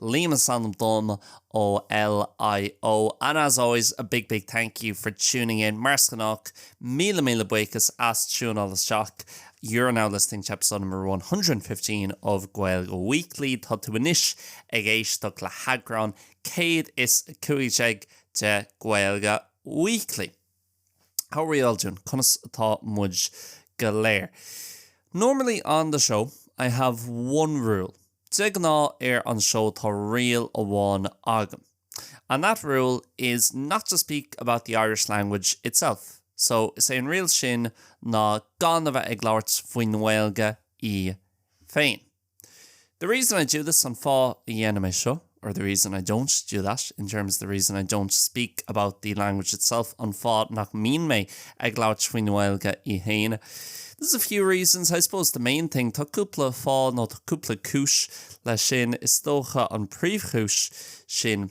Liam is ainm dom ó LIO and as always a big big thank you for tuning in mar is gnách míle míle buíochas as tiúnáil isteach You're now listening to episode number 115 of Gaeilge Weekly Tá tú anois ag éisteacht le heagrán 115 de Gaeilge Weekly. How are we all doing? Conas atá muid go léir? Normally on the show I have one rule. De ghnáth ar an seó tá riail amháin agam. And that rule is not to speak about the Irish language itself. So is é an riail sin ná gan a bheith ag labhairt faoin nGaeilge í féin. The reason I do this, an fáth a ndéanaim é seo, or the reason I don't do that, in terms of the reason I don't speak about the language itself, an fáth nach mbíonn mé ag labhairt faoin nGaeilge í féin. There's a few reasons, I suppose the main thing, tá cúpla fáth nó tá cúpla cúis leis sin, is dócha an príomhchúis sin,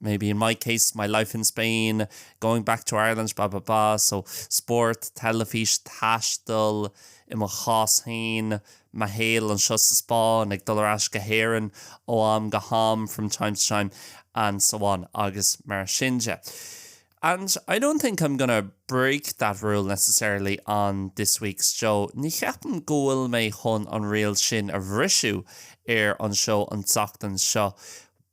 maybe in my case my life in Spain, going back to Ireland blah blah blah so spórt, teilifís, taisteal, i mo chás féin, mo shaol anseo sa Spáinn, ag dul ar ais go hÉirinn ó am go ham from time to time and so on agus mar sin de. And I don't think I'm gonna break that rule necessarily on this week's show, ní cheapaim go bhfuil mé chun an riail sin a bhriseadh ar an seó an tseachtain seo,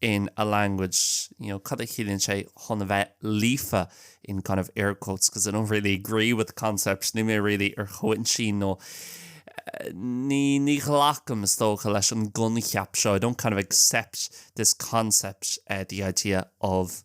in a language, you know, cad a chiallaíonn sé chun a bheith líofa in kind of air quotes because I don't really agree with the concept, níl mé really ar a shon sin nó ní ní ghlacaim is dócha leis an gcoincheap seo, I don't kind of accept this concept, the idea of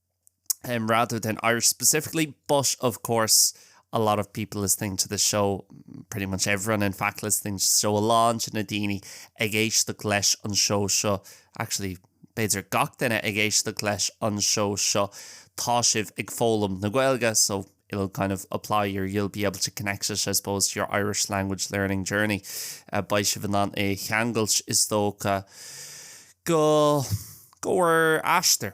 um, rather than Irish specifically, but of course a lot of people listening to the show, pretty much everyone in fact listening to the show, a lán de na daoine ag éisteach leis an seó seo, actually b'fhéidir gach duine ag éisteach leis an seó seo, tá sibh ag foghlaim na Gaeilge, so it'll kind of apply, or you'll be able to connect it, I suppose, to your Irish language learning journey. Uh, Beidh sibh in ann é a cheangailt is dócha go, go bhur aistear.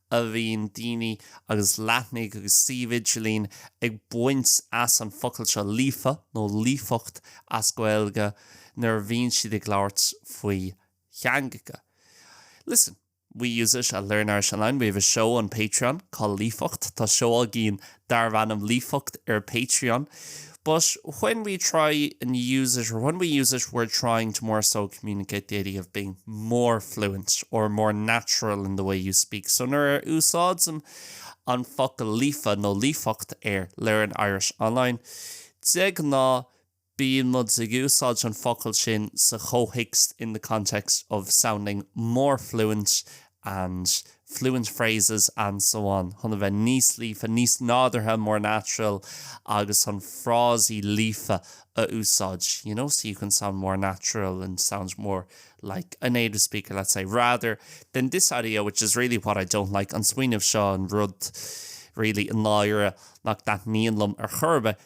a bhíonn daoine agus leathnaigh agus suímh idirlín ag baint as an focal seo líofa nó líofacht as Gaeilge nuair a bhíonn siad ag labhairt faoi theangacha. Listen, we use it at Learn Irish Online, we have a show on Patreon called Líofacht, tá seó againn darb ainm Líofacht ar Patreon but when we try and use it or when we use it we're trying to more so communicate the idea of being more fluent or more natural in the way you speak so nuair a úsáidim an focal líofa nó líofacht ar Learn Irish Online de ghnáth bíonn muid ag úsáid an focal sin sa chomhthéacs in the context of sounding more fluent and fluent phrases and so on chun a bheith níos líofa, níos nádúrtha more natural agus chun frásaí líofa a úsáid you know so you can sound more natural and sound more like a native speaker, let's say, rather than this idea which is really what I don't like an smaoineamh seo an rud really i ndáiríre nach dtaitníonn liom ar chor ar bith.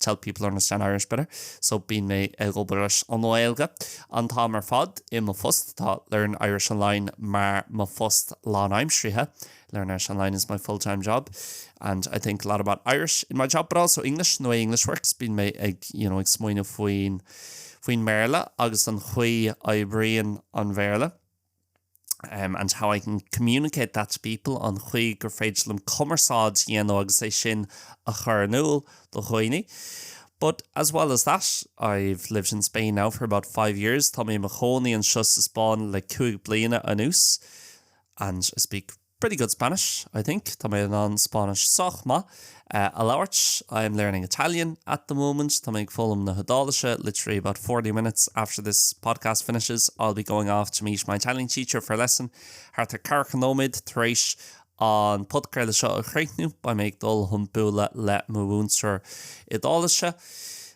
to help people understand Irish better so bíonn mé ag obair leis an nGaeilge an t-am ar fad i mo phost tá Learn Irish Online mar mo phost lánaimseartha Learn Irish Online is my full-time job and I think a lot about Irish in my job but also English how English works bíonn mé ag you know ag smaoineamh faoin faoin mBéarla agus an chaoi oibríonn an Bhéarla um and how I can communicate that to people, an chaoi gur féidir liom cumarsáid a dhéanamh agus é sin a chur in iúl do dhaoine. But as well as that, I've lived in Spain now for about five years, tá mé mo chónaí anseo sa Spáinn le cúig bliana anuas, and I speak pretty good Spanish, I think tá mé in ann Spáinnis sách maith a labhairt I am learning Italian at the moment tá mé ag foghlaim na hIodáilise literally about forty minutes after this podcast finishes I'll be going off to meet my Italian teacher for a lesson thart ar ceathracha nóiméad tar éis an podcraoladh seo a chríochnú beidh mé ag dul chun bualadh le mo mhúinteoir Iodáilise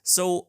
so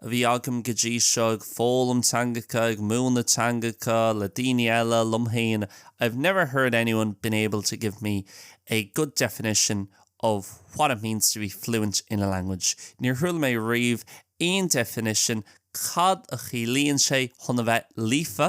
a bhí agam go dtí seo ag foghlaim teangacha, ag múineadh teangacha le daoine eile, liom féin, I've never heard anyone being able to give me a good definition of what it means to be fluent in a language níor chuala mé riamh aon definition cad a chiallaíonn sé chun a bheith líofa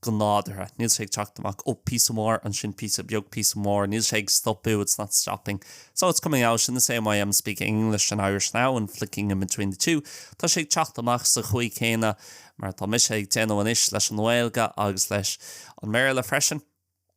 go nádúrtha. Níl sé ag teacht amach ó píosa mór, ansin píosa beag, píosa mór, níl sé ag stopadh, it's not stopping. So, it's coming out in the same way I'm speaking English and Irish now and flicking in between the two. Tá sé ag teacht amach sa chaoi chéanna mar atá mise ag déanamh anois leis an nGaeilge agus leis an mBéarla freisin.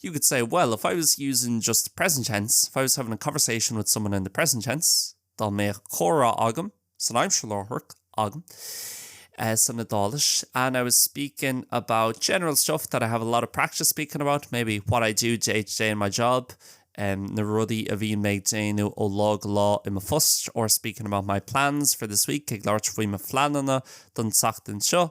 you could say, well, if I was using just the present tense, if I was having a conversation with someone in the present tense, dá mbeadh comhrá agam san aimsir láithreach, agam, eh, san Iodáilis, and I was speaking about general stuff that I have a lot of practice speaking about, maybe what I do day to day in my job, um, na rudaí a bhíonn mé ag déanamh ó lá go lá i mo phost, or speaking about my plans for this week, ag labhairt faoi mo phleananna don tseachtain seo,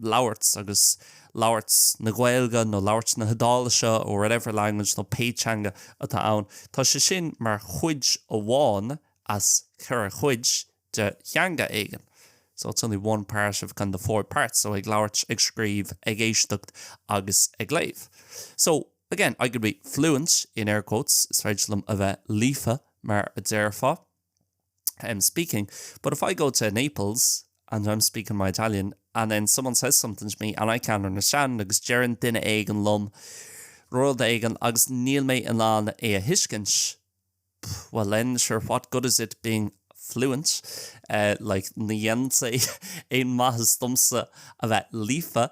labhairt agus labhairt na Gaeilge nó labhairt na hIodáilise or whatever language nó pé teanga atá ann. Tá sé sin mar chuid amháin as ceithre chuid de theanga éigin. So it's only one part of kind of the four parts. So ag labhairt, ag scríobh, ag éisteacht agus ag léamh. So, again, I could be fluent, in air quotes, is féidir liom a bheith líofa mar a déarfá. I'm speaking, but if I go to Naples and I'm speaking my Italian and then someone says something to me and I can't understand agus deireann duine éigin liom rud éigin agus níl mé in ann é a thuiscint, pff, well then sure what good is it being fluent, eh, like ní dhéanann sé aon mhaitheas domsa a bheith líofa.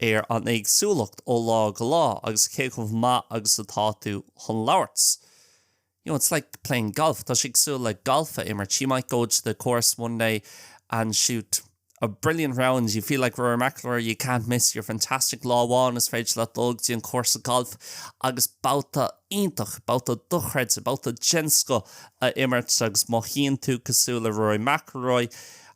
ar an éagsúlacht ó lá go lá agus cé chomh maith agus atá tú chun labhairt. You know, it's like playing golf, tá sé cosúil le galf a imirt, you might go to the course one day and shoot a brilliant round, you feel like Rory McIlroy, you can't miss, you're fantastic, lá amháin is féidir leat dul go dtí an cúrsa gailf agus babhta iontach, babhta dochreidte, babhta den scoth a imirt agus mothaíonn tú cosúil le Rory McIlroy.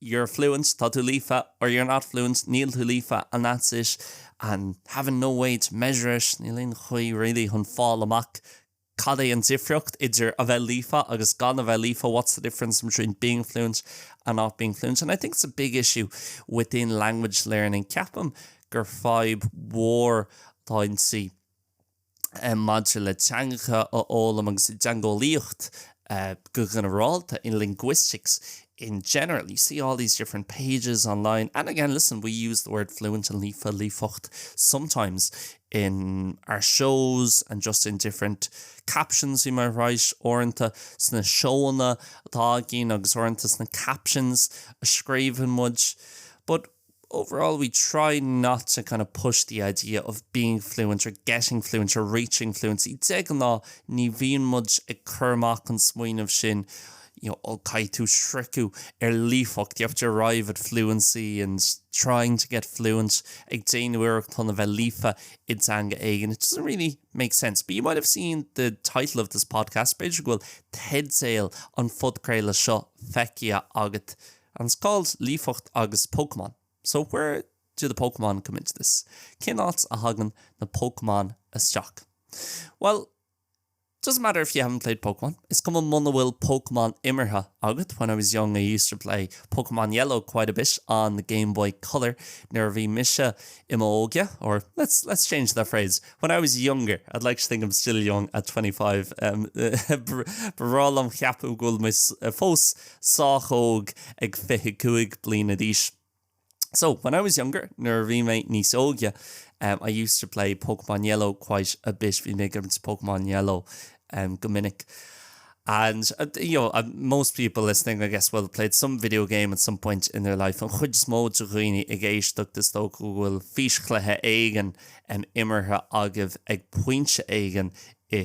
you're fluent, tá tú líofa or you're not fluent, níl tú líofa and that's it and having no way to measure it, níl aon chaoi really chun fáil amach cad é an difríocht idir a bheith líofa agus gan a bheith líofa, what's the difference between being fluent and not being fluent and I think it's a big issue within language learning, ceapaim gur fadhb mhór atá inti. maidir le teangacha a fhoghlaim agus i dteangeolaíocht go ginearálta, in linguistics in general. You see all these different pages online and again listen we use the word fluent and líofa, líofacht sometimes in our shows and just in different captions we might write uaireanta sna seóanna atá againn agus uaireanta sna captions a scríobhann muid but overall we try not to kind of push the idea of being fluent or getting fluent or reaching fluency. De ghnáth ní bhíonn muid ag cur amach an smaoineamh sin you know, ó caithfidh tú sroicheadh ar líofacht you have to arrive at fluency and trying to get fluent ag déanamh iarracht chun a bheith líofa i dteanga éigin. It doesn't really make sense. But you might have seen the title of this podcast, B'fhéidir go bhfuil teideal an phodchraolta seo feicthe agat An Scoil, Líofacht agus Pokémon So where do the Pokémon come into this? Cén áit a thagann na Pokémon isteach? Bhuel, it doesn't matter if you haven't played Pokémon, is cuma muna bhfuil Pokémon imeartha agat, when I was young I used to play Pokémon Yellow quite a bit on the Game Boy Color, nuair a bhí mise i m'óige, or let's let's change that phrase, when I was younger, I'd like to think I'm still young at 25, b'fhearr liom cheapadh go bhfuil mé fós sách óg ag fiche cúig bliana d'aois So, when I was younger, nuair a bhí mé níos óige, em I used to play Pokémon Yellow quite a bit bhí mé ag imirt Pokémon Yellow em go minic And uh, you know, uh, most people listening, I guess, will have played some video game at some point in their life. An chuid is mó de dhaoine ag éisteacht is dócha go bhfuil físchluiche éigin imeartha agaibh ag pointe éigin i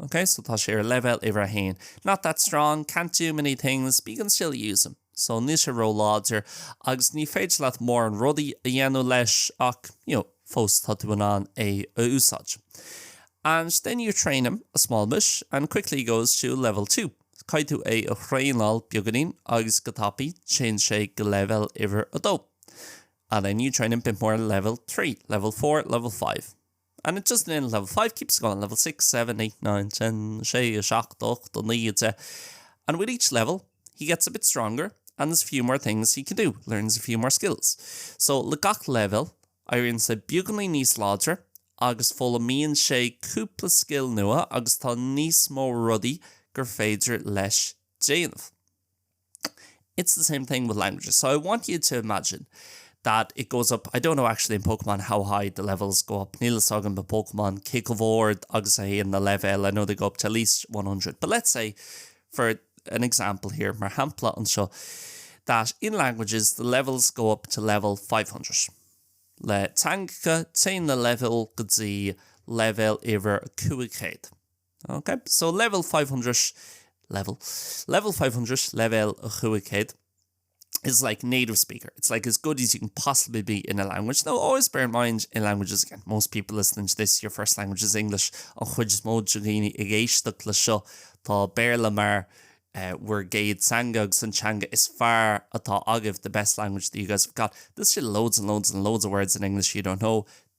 OK, so tá sé ar leibhéal uimhir a haon. Not that strong, can't do many things, but you can still use him. So níl sé róláidir agus ní féidir leat mórán rudaí a dhéanamh leis ach, you know, fós tá tú in ann é a úsáid. And then you train him a small bit and quickly he goes to level 2. Caithfidh tú é a thraenáil beagainín agus go tapaí téann sé go leibhéal uimhir a dó. And then you train him bit more level 3, level 4, level 5. and it just in level five keeps going level six seven eight nine ten sé seacht ocht a naoi deich and with each level he gets a bit stronger and there's a few more things he can do learns a few more skills so le gach leibhéal éiríonn sé beagáinín níos láidre agus foghlaimíonn sé cúpla scil nua agus tá níos mó rudaí gur féidir leis déanamh. It's the same thing with languages. So I want you to imagine that it goes up, I don't know actually in Pokemon how high the levels go up, níl fhios agam i bPokemon cé chomh hard agus a théann na leibhéil, I know they go up to at least one hundred. But let's say, for an example here, mar shampla anseo, that in languages the levels go up to level five hundred. Le teangacha téann na leibhéil go dtí leibhéal uimhir a cúig céad. Ok, so level five hundred level level five hundred leibhéal a chúig chéad is like native speaker, it's like as good as you can possibly be in a language. Now always bear in mind in languages again, most people listening to this your first language is English, an chuid is mó de dhaoine ag éisteacht le seo tá Béarla mar eh, bhur gcéad teanga agus an teanga is fearr atá agaibh, the best language that you guys have got. There's still loads and loads and loads of words in English you don't know,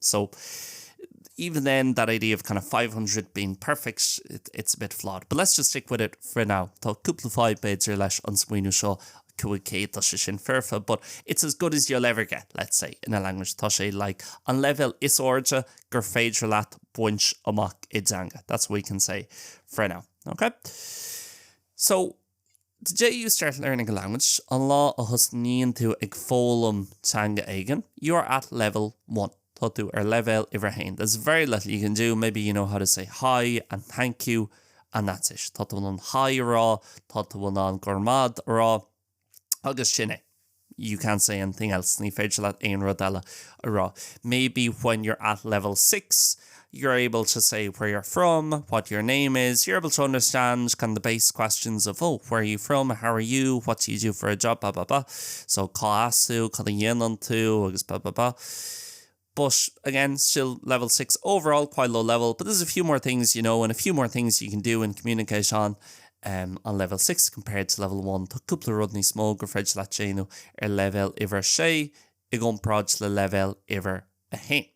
So, even then, that idea of kind of five hundred being perfect, it, it's a bit flawed. But let's just stick with it for now. Tá cúpla fáidh, b'fhéidir, leis an smaoineamh seo, cúig céad do sé sin foirfe, but it's as good as you'll ever get, let's say, in a language. Tá sé like an leibhéal is airde gur féidir leat baint amach i dteanga. That's what we can say for now. Ok? So, The day you start learning a language, an lá a thosnaíonn tú ag foghlaim teanga éigin. You are at level one, tá tú ar leibhéal uimhir a haon. There's very little you can do, maybe you know how to say hi and thank you and that's it. Tá tú in ann haigh a rá, tá tú in ann go raibh maith agat a rá agus sin é. you can't say anything else, ní féidir leat aon rud eile a rá maybe when you're at level six you're able to say where you're from, what your name is, you're able to understand can the base questions of oh where are you from, how are you, what do you do for a job ba ba ba so cá as tú, cad a dhéanann tú agus ba ba ba. but, again, still level six overall, quite low level, but there's a few more things you know and a few more things you can do in communication um, on level six compared to level one. Tá cúpla rud níos mó gur feidir le téanú ar level uimhir sé i gcompráid le level uimhir a hain.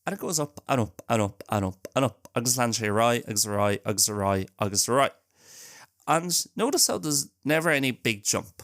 And it goes up and up and up and up and up agus land sé roi agus roi agus roi agus roi. And notice how there's never any big jump.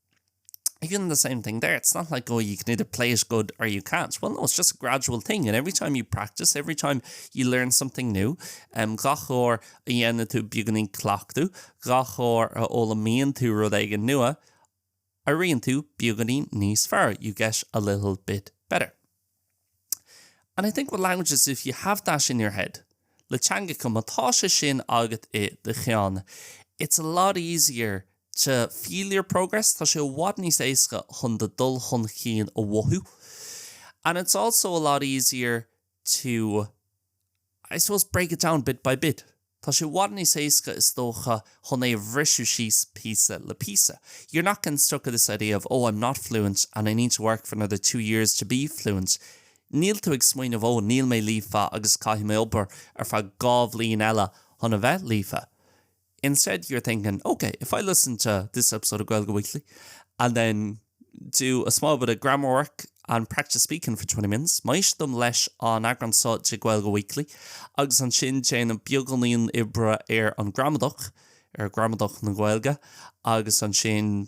even the same thing there, it's not like oh you can either play it good or you can't, well no it's just a gradual thing and every time you practice, every time you learn something new, um, gach uair a dhéanann tú beagáinín cleachtadh, gach uair a fhoghlaimíonn tú rud éigin nua, éiríonn tú beagáinín níos fearr, you get a little bit better. And I think with languages, if you have that in your head, le teangacha, má tá sé sin agat i do cheann, it's a lot easier to feel your progress, tá sé i bhfad níos éasca chun do dul chun cinn a mhothú. And it's also a lot easier to I suppose break it down bit by bit. Tá sé i bhfad níos éasca is dócha chun é a bhriseadh síos píosa le píosa. You're not getting stuck with this idea of oh I'm not fluent and I need to work for another two years to be fluent. Níl tú ag smaoineamh oh níl mé líofa agus caithfidh mé obair ar feadh dhá bhliain eile chun a bheith líofa. Instead you're thinking, ok, if I listen to this episode of Gaeilge Weekly and then do a small bit of grammar work and practice speaking for twenty minutes, má éistim leis an eagrán seo de Gaeilge Weekly agus ansin déanaim beagáinín oibre ar an gramadach, ar ghramadach na Gaeilge, agus ansin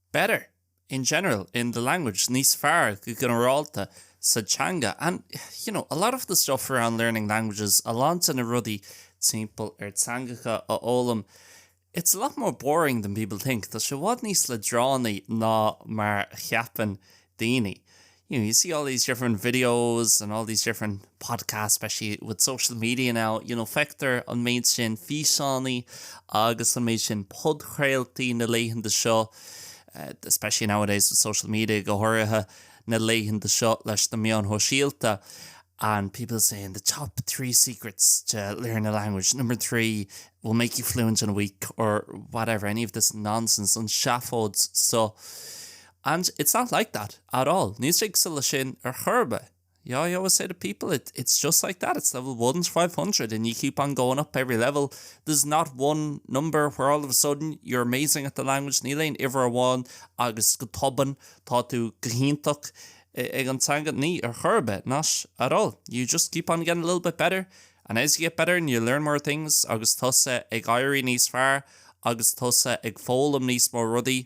better, in general, in the language, níos fearr go ginearálta sa teanga, and, you know, a lot of the stuff around learning languages, a lán de na rudaí timpeall ar teangacha a fhoghlaim, it's a lot more boring than people think, tá sé i bhfad níos leadránaí ná mar a cheapann daoine. you know, you see all these different videos and all these different podcasts, especially with social media now, you know, feictear an méid sin físeánaí agus an méid sin podchraoltaí na laethanta seo, uh, especially nowadays with social media go háirithe na laethanta seo leis na meáin shóisialta. And people saying the top three secrets to learn a language, number three will make you fluent in a week or whatever, any of this nonsense, an seafóid so. And it's not like that at all, níl sé cosúil leis sin ar chor ar bith. Yeah, I always say to people, it, it's just like that, it's level 1 to 500 and you keep on going up every level. There's not one number where all of a sudden you're amazing at the language, níl aon uimhir amháin agus go tobann tá tú go hiontach ag an teanga ní ar chor ar bith, not at all. You just keep on getting a little bit better and as you get better and you learn more things agus tusa ag éirí níos fearr agus tusa ag foghlaim níos mó rudaí,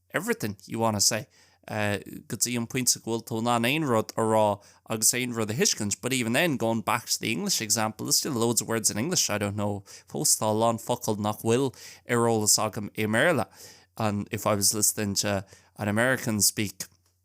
everything you wanna say go dtí an pointe go bhfuil tú in ann aon rud a rá agus aon rud a thuiscint but even then, going back to the English example, there's still loads of words in English I don't know fós tá a lán focail nach bhfuil ar eolas agam i mBéarla and if I was listening to an American speak.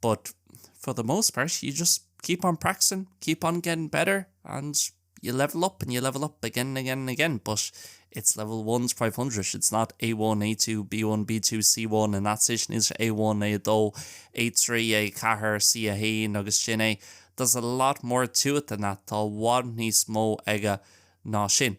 but for the most part you just keep on practicing, keep on getting better and you level up and you level up again and again and again but it's level one to five hundred, it's not A1, A2, B1, B2, C1 and that's it, níl sé A1, A2, A3, A4, C1 agus sin é, there's a lot more to it than that, tá i bhfad níos mó aige ná sin.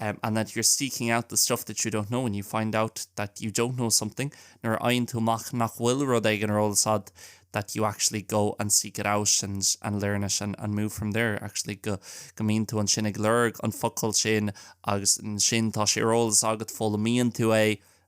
and that you're seeking out the stuff that you don't know and you find out that you don't know something nuair a fhaigheann tú amach nach bhfuil rud éigin ar eolas agat that you actually go and seek it out and and learn it and and move from there actually go go mbíonn tú ansin ag lorg an focal sin agus ansin tá sé ar eolas agat foghlaimíonn tú é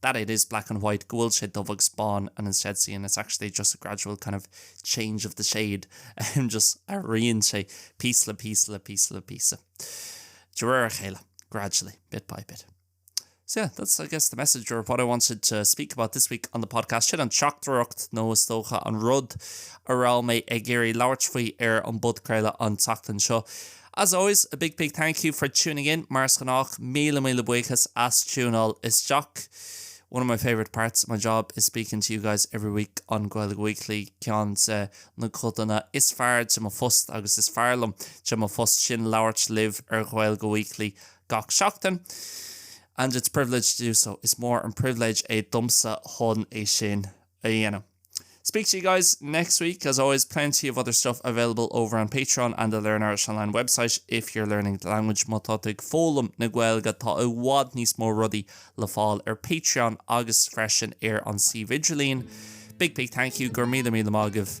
that it is black and white, go bhfuil sé dubh agus bán and instead seeing it's actually just a gradual kind of change of the shade, just athraíonn sé píosa le píosa le píosa le píosa de réir a chéile, gradually, bit by bit. So yeah, that's I guess the message or what I wanted to speak about this week on the podcast. Sin an teachtaireacht nó is dócha an rud a raibh mé ag iarraidh labhairt faoi ar an bpodchraoladh an tseachtain seo. As always, a big big thank you for tuning in, mar is gnách, míle míle buíochas as tiúnáil isteach. One of my favourite parts of my job is speaking to you guys every week on Gaeilge Weekly, ceann de na codanna is fearr de mo phost agus is fearr liom de mo phost sin labhairt libh ar Ghaeilge Weekly gach seachtain and it's a privilege to do so, is mór an pribhléid é domsa chun é sin a dhéanamh. Speak to you guys next week, as always plenty of other stuff available over on Patreon and the Learn Irish Online website if you're learning the language. Má tá tú ag foghlaim na Gaeilge tá i bhfad níos mó rudaí le fáil ar Patreon agus freisin ar an suíomh idirlín. Big big thank you, go raibh míle míle maith agaibh.